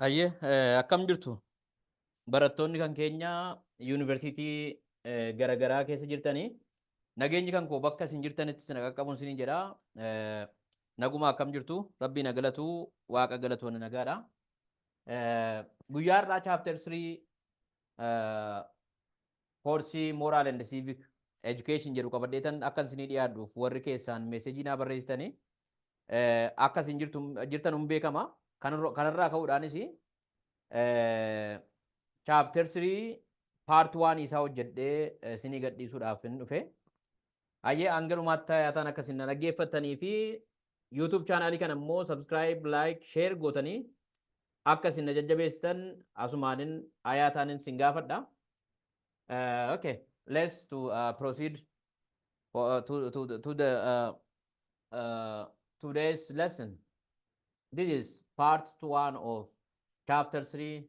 Hayyee eh, akkam jirtu barattoonni kan keenya yuunivarsiitii eh, garaagaraa keessa jirtanii nageenyi kan koo bakka isin jirtanitti isin qaqqabuun isiniin jedha Eh, naguma akkam jirtu rabbii na galatu waaqa galatoonni nagaadha Eh, guyyaa har'aa chaapter 3 Course Moral and Civic Education jedhu qabadheetan akkan isinii dhiyaadhuuf warri keessaan meesejii naa barreessitanii akka isin jirtan hin beekama. Kanarraa ka'uudhaanis chapter 3 part 1 isaa hojjedhee isinii gadhiisuudhaaf hin dhufe. Hayyee hanga dhumaatti tayaataan akka isin na dhaggeeffattanii fi YouTube chaanaalii kana immoo subscribe, like, share gootanii akka isin na jajjabeessitan asumaanin hayaataanin isin gaafadha. Uh, okay, let's to uh, proceed for, uh, to, to, the- to the uh, uh, today's lesson. This is part one of chapter three,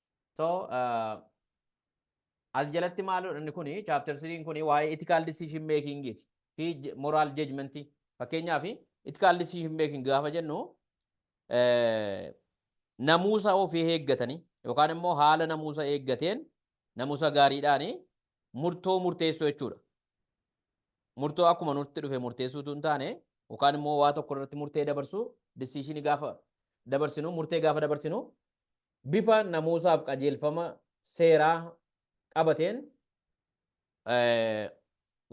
So, uh, as jalatti maaludha inni kuni chapter 3 kuni waa'ee ethical decision making ti fi j- moral judgment ti. Fakkeenyaaf ethical decision making gaafa jennu eh, namuusa ofii eeggatanii yookaan immoo haala namuusa eeggateen namuusa gaariidhaan murtoo murteessuu jechuudha. Murtoo akkuma nutti dhufe murteessuutu hin taane yookaan immoo waa tokko irratti murtee dabarsuu decision gaafa dabarsinu murtee gaafa dabarsinu bifa namuusaaf qajeelfama seeraa qabateen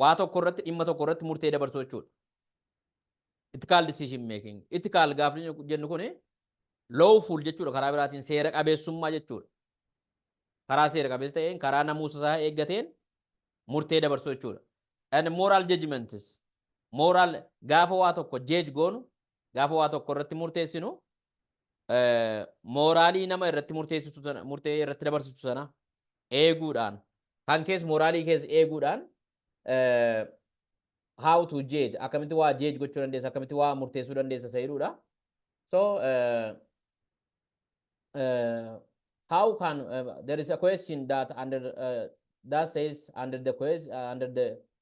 waa tokko irratti dhimma tokko irratti murtee dabarsuu jechuudha. Ethical decision making. Ethical gaafa jennu kuni lawful jechuudha karaa biraatiin seera qabeessummaa jechuudha. Karaa seera qabeessa ta'een karaa namuusa isaa eeggateen murtee dabarsuu jechuudha. And moral judgments. Moral gaafa waa tokko jeej goonu gaafa waa tokko irratti murteessinu eh, mooraalii nama irratti murteessitu sana murtee irratti dabarsitu sana eeguudhaan kan kees mooraalii kees eeguudhaan eh, how to judge akkamitti waa judge gochuu dandeessa akkamitti waa murteessuu dandeessa isa jedhudha so eh, eh, how can eh, there is a question that under eh, that says under the question under the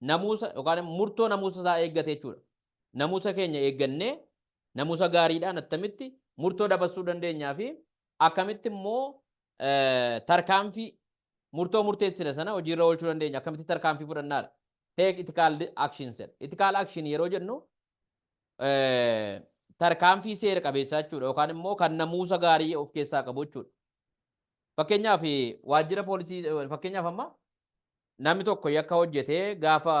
namuusa yookaan murtoo namuusa isaa eeggate jechuudha. Namuusa keenya eeggannee namuusa gaariidhaan attamitti murtoo dabarsuu dandeenyaa fi akkamitti immoo tarkaanfii murtoo murteessine sana hojiirra oolchuu dandeenya akkamitti tarkaanfii fudhannaadha. Take ethical actions jedha. Ethical action yeroo jennu tarkaanfii seera qabeessaa jechuudha yookaan immoo kan namuusa gaarii of keessaa qabu jechuudha. Fakkeenyaaf waajjira poolisii fakkeenyaaf amma Namni tokko yakka hojjetee gaafa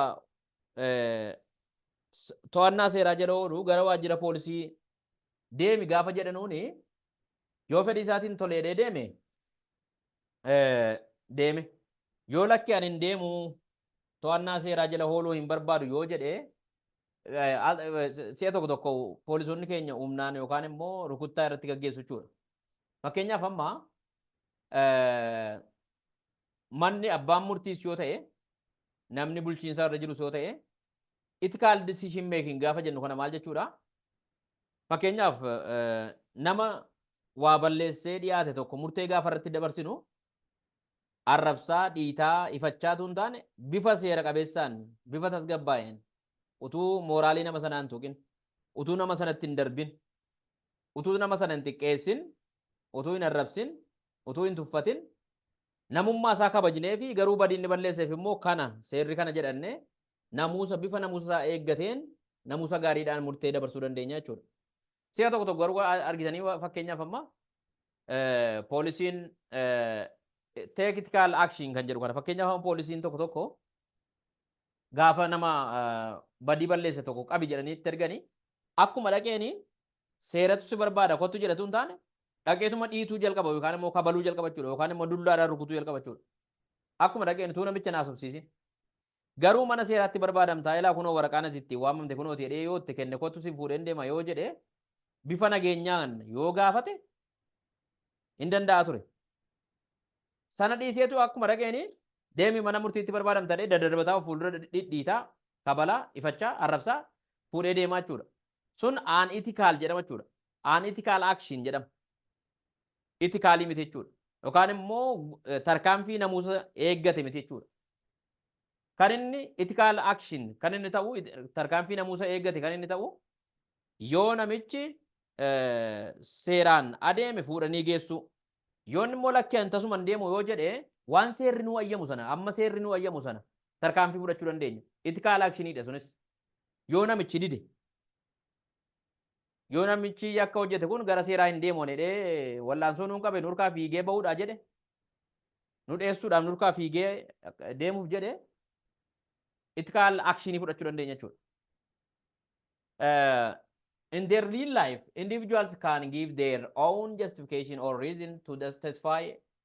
to'annaa seeraa jala oolu gara waajjira poolisii deemi gaafa jedhanuuni yoo fedhii isaatiin toleedhee deeme deeme yoo lakki ani hin deemu to'annaa seeraa jala ooluu hin barbaadu yoo jedhe si'a tokko tokko poolisoonni keenya humnaan yookaan immoo rukuttaa irratti gaggeessu jechuudha. Fakkeenyaaf amma manni abbaan murtiis yoo ta'e namni bulchiinsaa irra jirus yoo ta'e ethical decision making gaafa jennu kana maal jechuudha? Fakkeenyaaf nama waa balleessee dhiyaate tokko murtee gaafa irratti dabarsinu arrabsaa, dhiitaa, ifachaatu hin taane bifa seera qabeessaan, bifa tasgabbaa'een utuu mooraalii nama sanaa hin tuqin, utuu nama sanatti hin darbin, utuu nama sana hin xiqqeessin, utuu hin arrabsin, utuu hin tuffatin namummaa isaa kabajnee fi garuu badii inni balleesseef immoo kana seerri kana jedhanne namuusa bifa namuusa isaa eeggateen namuusa gaariidhaan murtee dabarsuu dandeenya jechuudha. Si'a tokko tokko garuu argitanii fakkeenyaaf amma poolisiin teekitikaal akshiin kan jedhu kana fakkeenyaaf amma poolisiin tokko tokko gaafa nama badii balleesse tokko qabi jedhanii itti erganii akkuma dhaqeeni seeratu si barbaada kottu jedhatu hin taane dhaqeetuma dhiituu jalqaba yookaan immoo kabaluu jalqaba jechuudha yookaan immoo dullaadhaan rukutuu jalqaba jechuudha. Akkuma dhaqeen utuu namicha naasofsiisin. Garuu mana seeraatti barbaadamtaa ilaa kunoo waraqaa nati ittiin waamamte kunoo ti jedhee yoo itti kenne kottu sin fuudheen deema yoo jedhe bifa nageenyaan yoo gaafate hin danda'a ture. Sana dhiiseetu akkuma dhaqeeni deemi mana murtiitti barbaadamta jedhee daddarbataa of fuuldura dhidhiitaa kabalaa ifachaa arrabsaa fuudhee deemaa jechuudha. sun aan itikaal jedhama jechuudha. Aan itikaal akshin jedhama. Itikaalii miti jechuudha. Yookaan immoo eh, tarkaanfii namuusa eeggate miti jechuudha. Kan inni itikaal akshin kan inni ta'u it- tarkaanfii namuusa eeggate kan inni ta'u yoo namichi eh, seeraan adeeme fuudhanii geessuu. Yoo inni immoo lakkee an tasuman deemu yoo jedhe waan seerri nuu ayyamu sana amma seerri nuu ayyamu sana tarkaanfii fudhachuu dandeenya. Itikaal akshiniidha sunis. yoo namichi dide yoo namichi yakka hojjete kun gara seeraa hin deemu jedhee wallaansoo nuun qabe nurkaa fiigee bahuudhaa jedhe nu dheessuudhaaf nurkaa fiigee deemuuf jedhe itti kaal akshinii fudhachuu dandeenya jechuudha. Uh, in their real life, individuals can give their own justification or reason to justify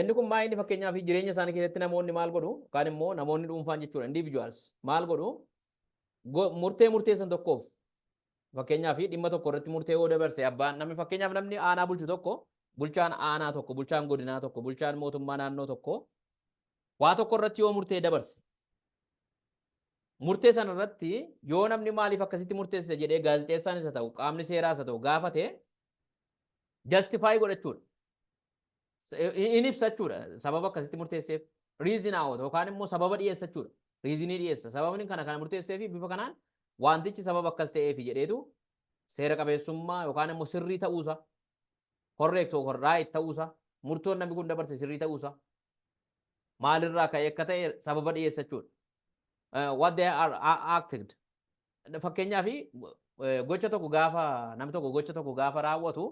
Inni kun maal inni fakkeenyaaf jireenya isaanii keessatti namoonni maal godhu yookaan immoo namoonni dhuunfaan jechuudha individuals maal godhu murtee murteessan tokkoof fakkeenyaaf dhimma tokko irratti murtee yoo dabarse abbaan namni fakkeenyaaf namni aanaa bulchu tokko bulchaan aanaa tokko bulchaan godinaa tokko bulchaan mootummaa naannoo tokko waa tokko irratti yoo murtee dabarse murtee sana irratti yoo namni maaliif akkasitti murteessite jedhee gaazexeessaan isa ta'u qaamni seeraa isa ta'u gaafate Justify godhachuudha. In ibsachuudha. Sababa akkasitti murteesseef. Reason out yookaan immoo sababa dhiyeessachuudha. Reasonii dhiyeessa. Sababni kana kana murteesseefi bifa kanaan wantichi sababa akkas ta'eefi jedheetu seera qabeessummaa yookaan immoo sirrii ta'uusa correct or right ta'uusa murtoon namni kun dabarse sirrii ta'uusa maalirraa ka'e akka ta'e sababa dhiyeessachuudha. What they are acted Fakkeenyaaf gocha tokko gaafa namni tokko gocha tokko gaafa raawwatu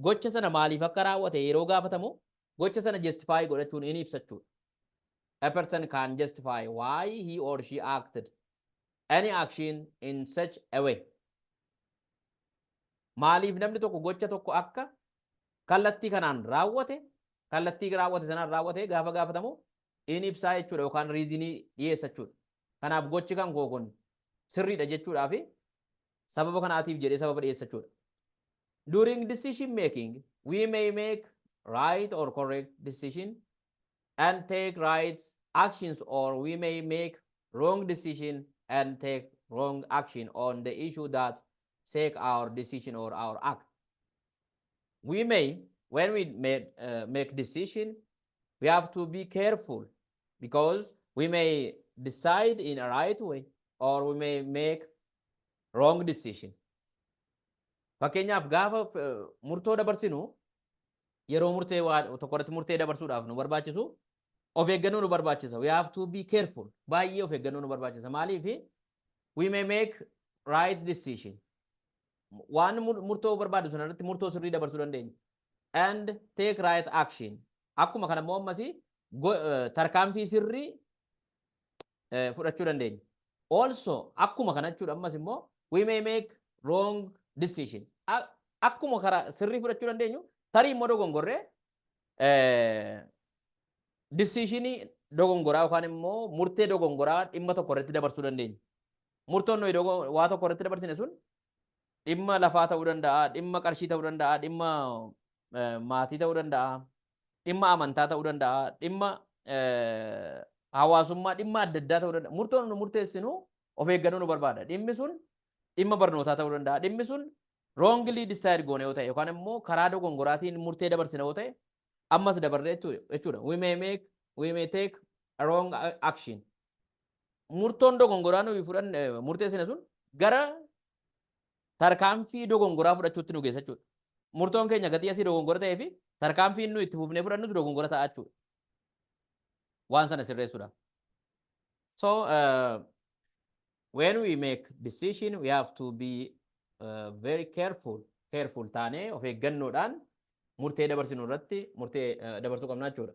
gocha sana maaliif akka raawwate yeroo gaafatamu gocha sana justify godhachuun in ibsachuudha. A person can justify why he or she acted any action in such a way. Maaliif namni tokko gocha tokko akka kallattii kanaan raawwate kallattii raawwate sanaan raawwate gaafa gaafatamu in ibsaa jechuudha yookaan riizinii dhiyeessa jechuudha. Kanaaf gochi kan koo kun sirriidha jechuudhaa fi sababa kanaatiif jedhee sababa dhiyeessachuudha. During decision making, we may make right or correct decision and take right actions or we may make wrong decision and take wrong action on the issue that shake our decision or our act. We may, when we make, uh, make decision, we have to be careful because we may decide in a right way or we may make wrong decision. Fakkeenyaaf gaafa eh, murtoo dabarsinu yeroo murtee waa tokko irratti murtee dabarsuudhaaf nu barbaachisu of eeggannoo nu barbaachisa. We have to be careful. Baay'ee of eeggannoo nu barbaachisa. Maaliif? We may make right decision. Waan mur- murtoo barbaadu sana irratti murtoo sirrii dabarsuu dandeenya. and take right action akkuma kana immoo ammas tarkaanfii sirrii fudhachuu dandeenya. Also akkuma kana jechuudha ammas immoo we may make wrong decision. Akkuma karaa sirrii fudhachuu dandeenyu tarii immoo dogongorree decisionii dogongoraa yookaan immoo murtee dogongoraa dhimma tokko irratti dabarsuu dandeenya. Murtoon nuyi waa tokko irratti dabarsine sun dhimma lafaa ta'uu danda'a, dhimma qarshii ta'uu danda'a, dhimma eh, maatii ta'uu danda'a, dhimma amantaa ta'uu danda'a, dhimma eh, hawaasummaa, dhimma adda addaa ta'uu danda'a. Murtoon nu murteessinu of eeggannoo nu barbaada. Dhimmi sun dhimma barnootaa ta'uu danda'a. Dhimmi sun roongilii disaayid goone yoo ta'e yookaan immoo karaa dogongoraatiin murtee dabarsina yoo ta'e ammas dabarree jechuu- jechuudha. We may make, we may take a wrong a- action. Murtoon dogongoraa nuyi fudhanne murteessine sun gara tarkaanfii dogongoraa fudhachuutti nu geessa jechuudha. Murtoon keenya gatii asii dogongora ta'ee fi tarkaanfiin nu itti fufnee fudhannus dogongora ta'a jechuudha. Waan sana sirreessuudhaaf. So uh, when we make decision we have to be uh, very careful careful taanee of eeggannoodhaan murtee dabarsinu irratti murtee uh, dabarsuu qabna jechuudha.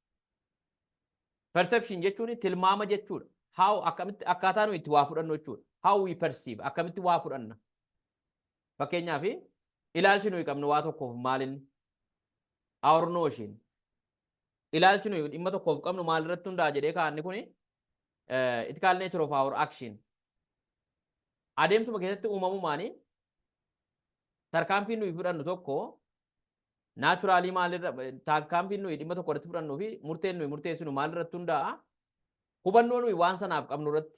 Perception jechuun tilmaama jechuudha. How akkamitti akkaataa nuyi itti waa fudhannu jechuudha. How we perceive akkamitti waa fudhanna. Fakkeenyaaf ilaalchi nuyi qabnu waa tokkoof maalinni our notion ilaalchi nuyi dhimma tokkoof qabnu maalirratti hundaa'a jedhee kaa'anni kuni eh, it called nature of our action. Adeemsuma keessatti uumamumaanii tarkaanfii nuyi fudhannu tokko Naachuraalii maalirra taakkaanfiin nuyi dhimma tokko irratti fudhannuu fi murteen nuyi murteessinu maalirratti hundaa'a? Hubannoo nuyi waan sanaaf qabnu irratti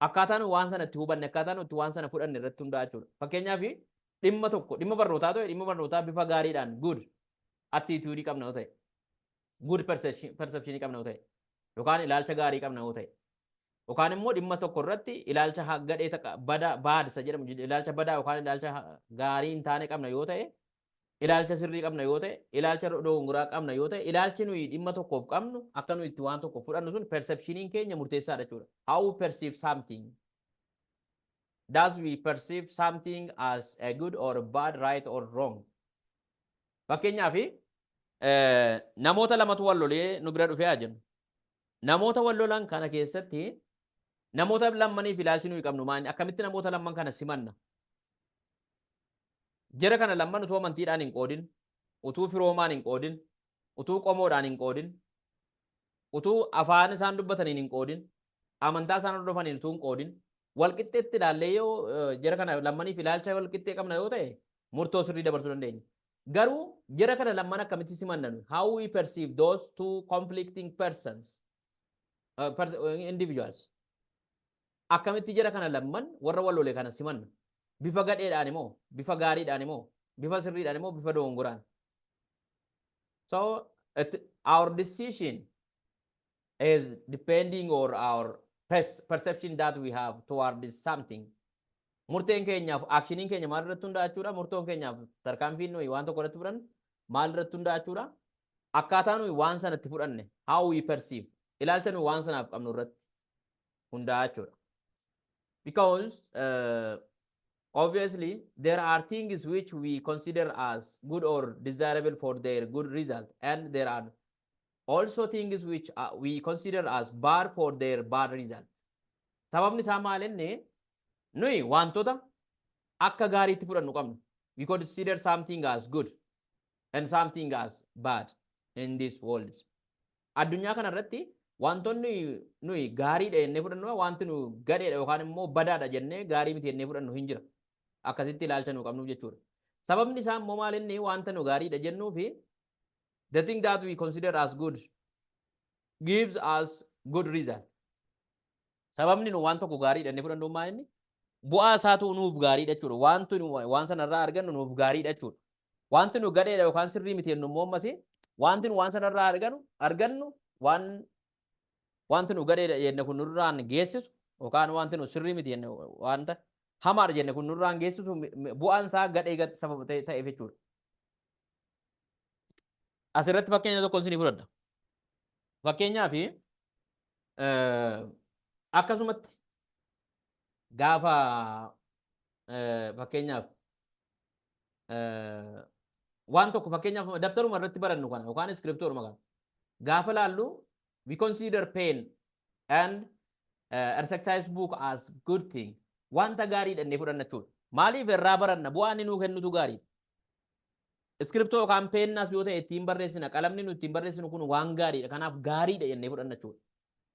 akkaataa nuyi waan sana itti hubanne akkaataa nuyi itti waan sana fudhanne irratti hundaa'a jechuudha. Fakkeenyaaf dhimma tokko dhimma barnootaa ta'e dhimma barnootaa bifa gaariidhaan good attitude qabna yoo ta'e good perception qabna yoo ta'e yookaan ilaalcha gaarii qabna yoo ta'e Yookaan immoo dhimma tokko irratti ilaalcha ha- gadhee taqa- bada baad isa jedhamu jid- ilaalcha badaa yookaan ilaalcha ha- gaarii hin taane qabna yoo ta'e ilaalcha sirrii qabna yoo ta'e ilaalcha do- dogongoraa qabna yoo ta'e ilaalchi nuyi dhimma tokkoof qabnu akka nuyi itti waan tokko fudhannu sun perceptioniin keenya murteessaadha jechuudha. How we perceive something. Does we perceive something as a good or bad, right or wrong? Fakkeenyaaf eh, namoota lamatu wal lolee nu bira dhufee haa jennu. Namoota wal lolan kana keessatti namoota lammaniif ilaalchi nuyi qabnu maali? Akkamitti namoota lamman kana simanna? Jara kana lamman utuu amantiidhaan hin qoodin, utuu firoomaan hin qoodin, utuu qomoodhaan hin qoodin, utuu afaan isaan dubbataniin hin qoodin, amantaa isaan hordofaniin utuu hin qoodin, wal qixxeetti ilaallee yoo eh, jara kana lammaniif ilaalcha wal qixxee qabna yoo ta'e murtoo sirrii dabarsuu dandeenya. Garuu, jara kana lamman akkamitti simanna nuyi? How we perceive those two conflicting persons, uh, pers individuals. Akkamitti jara kana lamman warra wal lole kana simanna? Bifa gadheedhaan moo? Bifa gaariidhaan moo? Bifa sirriidhaan moo? Bifa dogongoraan? So, it, our decision as depending or our pers- perception that we have towards something murteen keenyaaf akshiniin keenya maal irratti hundaa'aa jechuudha murtoon keenyaaf tarkaanfiin nuyi waan tokko irratti fudhannu maal irratti hundaa'aa jechuudha akkaataa nuyi waan sanatti fudhanne how we perceive ilaalcha nuyi waan sanaaf qabnu irratti hundaa'aa jechuudha because uh, obviously there are things which we consider as good or desirable for their good result and there are also things which uh, we consider as bad for their bad result. Sababni isaa maal inni nuyi wantoota akka gaariitti fudhannu qabnu. We consider something as good and something as bad in this world. Addunyaa kana irratti wantoonni nuyi gaariidha jennee fudhannu wanti nu gadheedha yookaan immoo badaadha jennee gaarii miti jennee fudhannu hin jira. Akkasitti ilaalcha nu qabnuuf jechuudha. Sababni isaa immoo maal inni wanta nu gaariidha jennuu fi the thing that we consider as good gives us good result. Sababni nu waan tokko gaarii jennee fudhannu maa inni bu'aa isaatu nuuf gaarii jechuudha. Wanti nu waan sanarraa argannu nuuf gaarii jechuudha. Wanti nu gadheedha yookaan sirrii miti jennu immoo ammas wanti nu waan sanarraa argannu argannu waan wanti nu gadheedha jenne kun nurraan geessisu yookaan wanti nu sirrii miti jenne wanta hamaadha jenne kun nurraan geessisu bu'aan isaa gadhee gad sababa ta'eef jechuudha. Asirratti fakkeenya tokko isinii fudhadha. Fakkeenyaaf akkasumatti gaafa fakkeenyaaf waan tokko fakkeenyaaf dabtaruma irratti barannu kana yookaan iskiriptooruma kana gaafa laallu we consider pain and uh, exercise book as good thing wanta gaarii dhannee fudhanna jechuudha. Maaliif irraa baranna bu'aan inni nuu kennutu gaariidha. Iskiriptoo yookaan peennaas yoo ta'e ittiin barreessina. Qalamni nu ittiin barreessinu kun waan gaariidha. Kanaaf gaariidha jennee fudhanna jechuudha.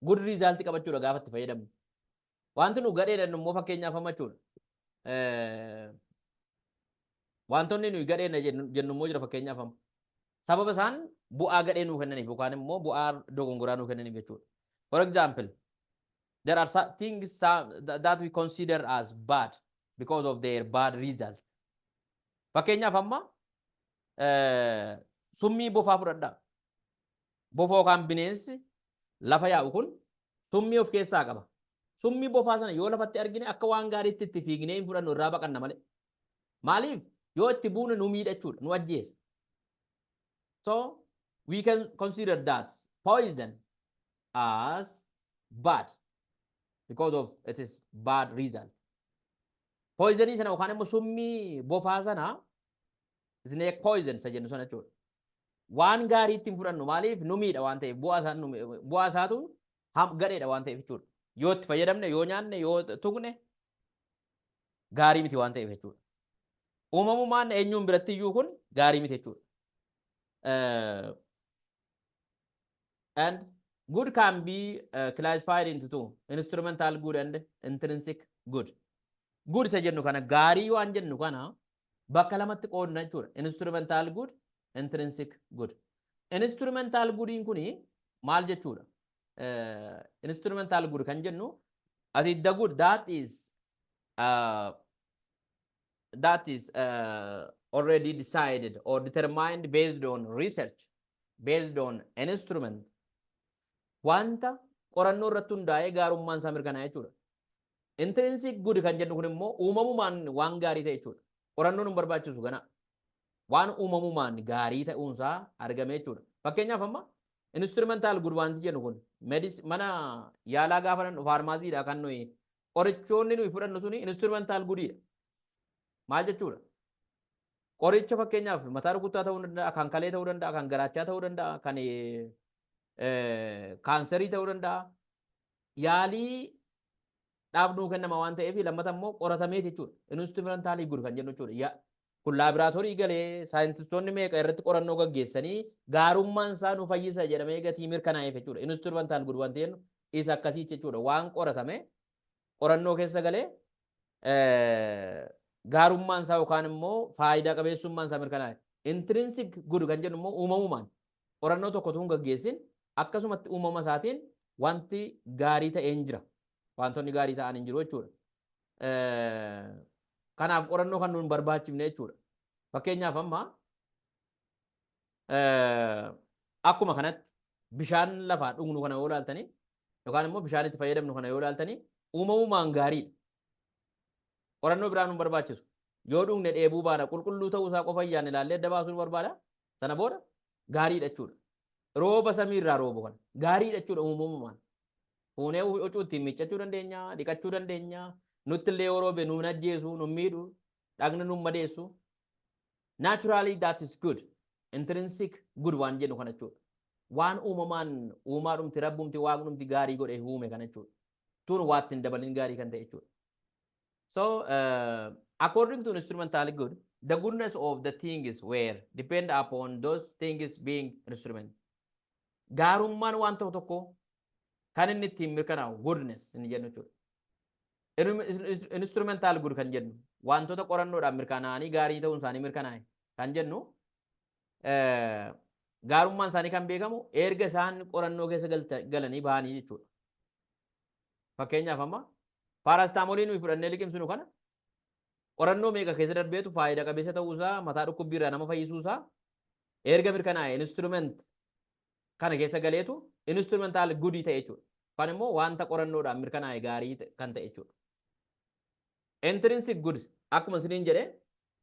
Good result qabachuudha gaafa itti fayyadamnu. Wanti nu gadhee jennu immoo fakkeenyaaf amma jechuudha. Wantoonni nuyi gadhee jennu immoo jira fakkeenyaaf amma. Sababa isaan bu'aa gadhee nuu kennaniif yookaan immoo bu'aa dogongoraa nuu kennaniif jechuudha. For example, there are some things some, that we consider as bad because of their bad result. Fakkeenyaaf amma summii bofaa fudhadhaa. Bofa yookaan bineensi lafa yaa'u kun summii of keessaa qaba. Summii bofaa sana yoo lafatti argine akka waan gaariitti itti fiignee hin fudhannu irraa baqanna malee. Maaliif yoo itti buune nu miidha jechuudha nu ajjeesa. So we can consider that poison as bad because of it is bad result. Poizanii sana yookaan immoo summii bofaa sana snake poison isa jennu sana jechuudha. Waan gaarii ittiin fudhannu maaliif nu miidha waan ta'eef bu'aa isaa nu mi- bu'aa isaatu ham- gadheedha waan ta'eef jechuudha. Yoo itti fayyadamne yoo nyaanne yoo tuqne gaarii miti waan ta'eef jechuudha. Uumamumaan eenyuun biratti iyyuu kun gaarii miti jechuudha. Eh, and good can be uh, classified into two instrumental good and intrinsic good good isa jennu kana gaarii waan jennu kana bakka lamatti qoodna jechuudha instrumental good intrinsic good instrumental goodiin kuni maal jechuudha uh, instrumental good kan jennu as it the good that is uh, that is uh, already decided or determined based on research, based on an instrument, wanta qorannoo irratti hundaa'ee gaarummaan isaa mirkanaa'e jechuudha. Intrinsic good kan jennu kun immoo uumamumaan waan gaarii ta'e jechuudha. Qorannoon hin barbaachisu kana waan uumamumaan gaarii ta'uunsaa argame jechuudha. Fakkeenyaaf amma instrumental good wanti jennu kun mana yaalaa gaafa dhandhu faarmaasiidha kan nuyi qorichoonni nuyi fudhannu suni instrumental gudiidha. Maal jechuudha? Qoricha fakkeenyaaf mataa rukuttaa ta'uu danda'a, kan kalee ta'uu danda'a, kan garaachaa ta'uu danda'a, kan kaanserii ta'uu danda'a. Yaalii dhaabnuu kennama waan ta'eef lammata immoo qoratamee jechuudha. Instrumental good kan jennu jechuudha. Kun laabraatoorii galee saayintistoonni meeqa irratti qorannoo gaggeessanii gaarummaan isaa nu fayyisa jedhamee gatii mirkanaa'eef jechuudha. Instrumental good wanti jennu isa akkasii jechuudha. Waan qoratame qorannoo keessa galee gaarummaan isaa yookaan immoo faayidaa qabeessummaan isaa mirkanaa'e. Intrinsic good kan jennu immoo uumamumaan qorannoo tokko tun gaggeessin akkasumatti uumama isaatiin wanti gaarii ta'een jira. Wantoonni gaarii ta'an hin jiru jechuudha. kanaaf qorannoo kan nuun barbaachifne jechuudha. Fakkeenyaaf amma akkuma kanatti bishaan lafaa dhugnu kana yoo ilaaltanii yookaan immoo bishaan itti fayyadamnu kana yoo ilaaltanii uumamumaan gaariidha. Qorannoo biraa nuun barbaachisu. Yoo dhugne dheebuu baana qulqulluu ta'uu isaa qofa iyyaan ilaallee adda baasuun barbaada. Sana booda gaariidha jechuudha. Rooba samii irraa roobu kana gaariidha jechuudha uumamumaan. Fuunee huccuu ittiin miiccachuu dandeenya, dhiqachuu dandeenya, nutti illee yoo roobe nu hin ajjeesu, nu hin miidhu, dhagna nu hin madeessu. Naturally that is good. Intrinsic good waan jennu kana jechuudha. Waan uumamaan uumaa dhumti rabbumti waan dhumti gaarii godhee uume kana jechuudha. Tuun waa ittiin dabalin gaarii kan ta'e jechuudha. So uh, according to instrumental good, the goodness of the things were depend upon those things being instrument. Gaarummaan waan ta'u tokkoo kan inni ittiin mirkanaa'u goodness inni jennu jechuudha. Instrumental good kan jennu wantoota qorannoodhaan mirkanaa'anii gaarii ta'uun isaanii mirkanaa'e kan jennu gaarummaan isaanii kan beekamu erga isaan qorannoo keessa galanii bahanii jechuudha. Fakkeenyaaf amma paaraastaamoolii nuyi fudhannee liqimsinu kana qorannoo meeqa keessa darbeetu faayida qabeessa ta'uu isaa mataa dhukkubbii irraa nama fayyisuu isaa erga mirkanaa'e instrument kana keessa galeetu instrumental gudii ta'e jechuudha. Kan immoo wanta qorannoodhaan mirkanaa'e gaarii kan ta'e jechuudha. Intrinsic goods akkuma isiniin jedhe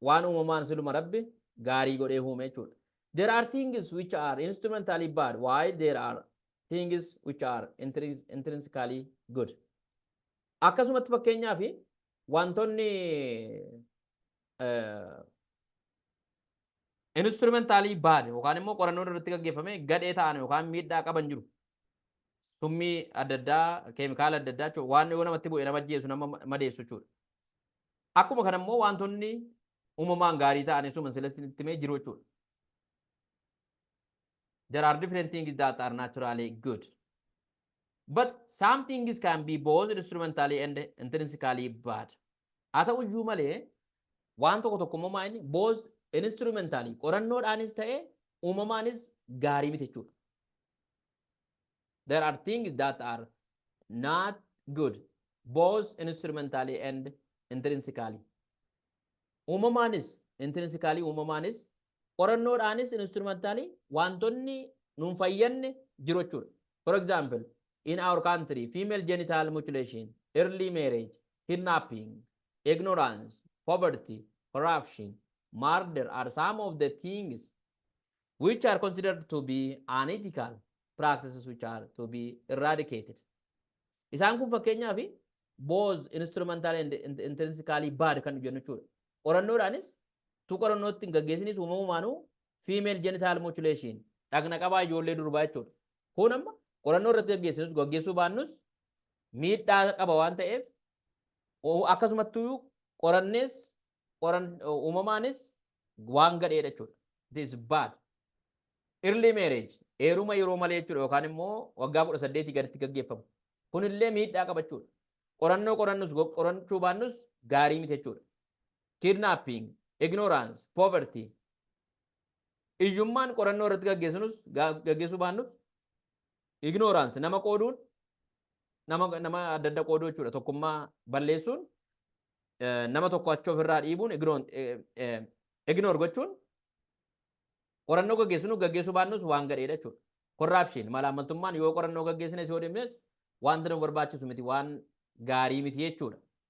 waan uumamaan siluma rabbi gaarii godhee uume jechuudha. There are things which are instrumentally bad while there are things which are intrinsically good. Akkasumatti fakkeenyaaf wantoonni instrumentaalii baad yookaan immoo qorannoon irratti gaggeeffame gadhee ta'an yookaan miidhaa qaban jiru. Summii adda addaa, keemikaala adda addaa jechuudha. Waan yoo namatti bu'e nama ajjeesu nama madeessu jechuudha. Akkuma kana immoo wantoonni uumamaan gaarii ta'an isuma silestiin itti mee jiru jechuudha. There are different things that are naturally good. But some things can be both instrumentally and intrinsically bad. Haa ta'u iyyuu malee waan tokko tokko immoo maa inni both instrumentally qorannoodhaanis ta'e uumamaanis gaarii miti jechuudha. There are things that are not good both instrumentally and intrinsically. Uumamaanis intrinsically uumamaanis qorannoodhaanis instrumentally wantoonni nuun fayyanne jiru jechuudha. For example, in our country, female genital mutilation, early marriage, kidnapping, ignorance, poverty, corruption, murder are some of the things which are considered to be unethical practices which are to be eradicated. Isaan kun fakkeenyaaf both instrumental and int- intrinsically bad kan jennu jechuudha. Qorannoodhaanis tu qorannootti hin gaggeessinis uumamumaanuu female genital mutilation dhagna qabaa ijoollee durbaa jechuudha. Kun amma qorannoo irratti gaggeessinus gaggeessuu baannus miidhaa qaba waan ta'eef o- akkasumattuu qorannees qoran uumamaanis waan gadheedha jechuudha. It is bad. Early marriage heeruma yeroo malee jechuudha yookaan immoo waggaa kudha saddeetii gaditti gaggeeffamu. Kunillee miidhaa qaba jechuudha. Qorannoo qorannus go- qorachuu baannus gaarii miti jechuudha. kidnapping, ignorance, poverty, iyyummaan qorannoo irratti gaggeessinus gaggeessuu baannus ignorance nama qooduun nama nama adda adda qooduu jechuudha tokkummaa balleessuun nama tokko achi ofirraa dhiibuun ignore gochuun qorannoo gaggeessinu gaggeessuu baannus waan gadheedha jechuudha. Korraapshiin malaammaltummaan yoo qorannoo gaggeessines yoo dhimnes wanti nu barbaachisu miti waan gaarii miti jechuudha.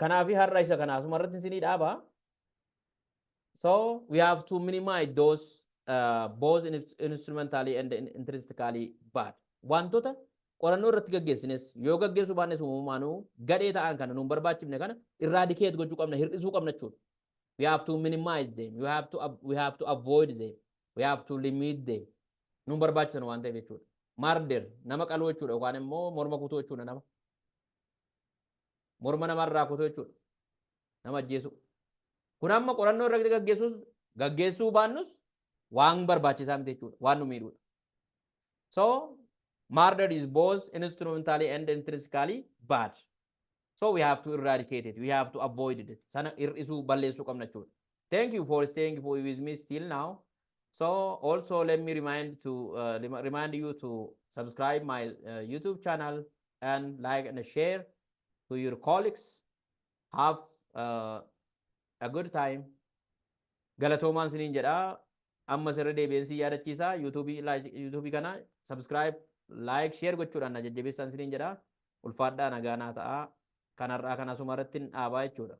Kanaafi har'a isa kana asuma irratti isinii dhaaba. So we have to minimize those uh, both in, instrumentally and in- intrinsically bad. Wantoota qorannoo irratti gaggeessines yoo gaggeessuu baannes uumamumaanuu gadhee ta'an kana nuun barbaachifne kana irraadikeet gochuu qabna hir'isuu qabna jechuudha. We have to minimize them. You have to ab- we have to avoid them. We have to limit them. Nuun barbaachisan waan ta'eef jechuudha. Murder nama qaluu jechuudha yookaan immoo morma kutuu jechuudha nama. Morma namaa irraa kutuu jechuudha. Nama ajjeesuu. Kun amma qorannoo irratti gaggeessuus gaggeessuu baannus waan barbaachisaa miti jechuudha. Waan nu miidhuudha. So murder is both instrumentally and intrinsically bad. So we have to eradicate it. We have to avoid it. Sana hir'isuu balleessuu qabna jechuudha. Thank you for staying for with me still now. So also let me remind to uh, remind you to subscribe my uh, YouTube channel and like and share to your colleagues. Have uh, a good time. Galatoomaan siniin jedha. Amma sirri deebi'een si yaadachiisa. YouTube kana subscribe, like, share gochuudhaan na jajjabeessaan siniin jedha. Ulfaadhaa nagaa naa ta'a. Kanarraa kan asuma irratti dhaabaa jechuudha.